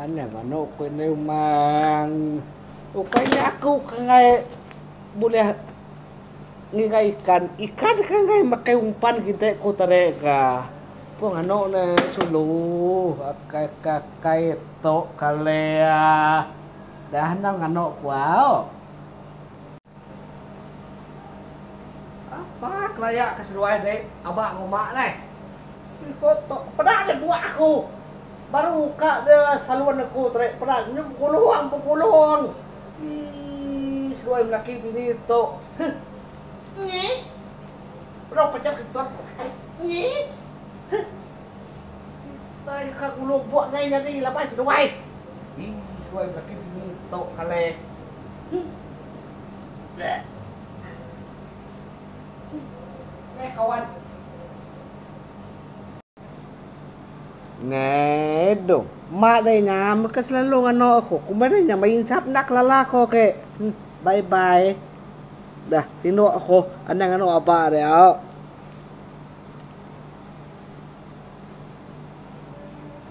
Anang manuk ku indai umang. Ukai nya aku ke enggai bulih ngiga ikan. Ikan ke enggai makai umpan kite ku tare ga. Pun anok ne sulu akai ka kai tok kalea. Dah anang anok ku au. Apa kelaya ke seduai dek aba enggau mak neh. Siko tok ke peda deh buak aku. Baru ka de salon aku tu dek peda nyu begulong begulong. Ii seduai melaki bini tok huh. Nyi bedau pejam kentut nyi huh. Kitai ka gulong buak ngai nyadi laban seduai. Ii seduai melaki bini tok kaleh. Ngedo. Mak deh nya baka selalu ngano aku. Kumbai deh nya meh insap enda ke lala ko ke. Bye bye. Dah tindok aku anang ngano aba dia.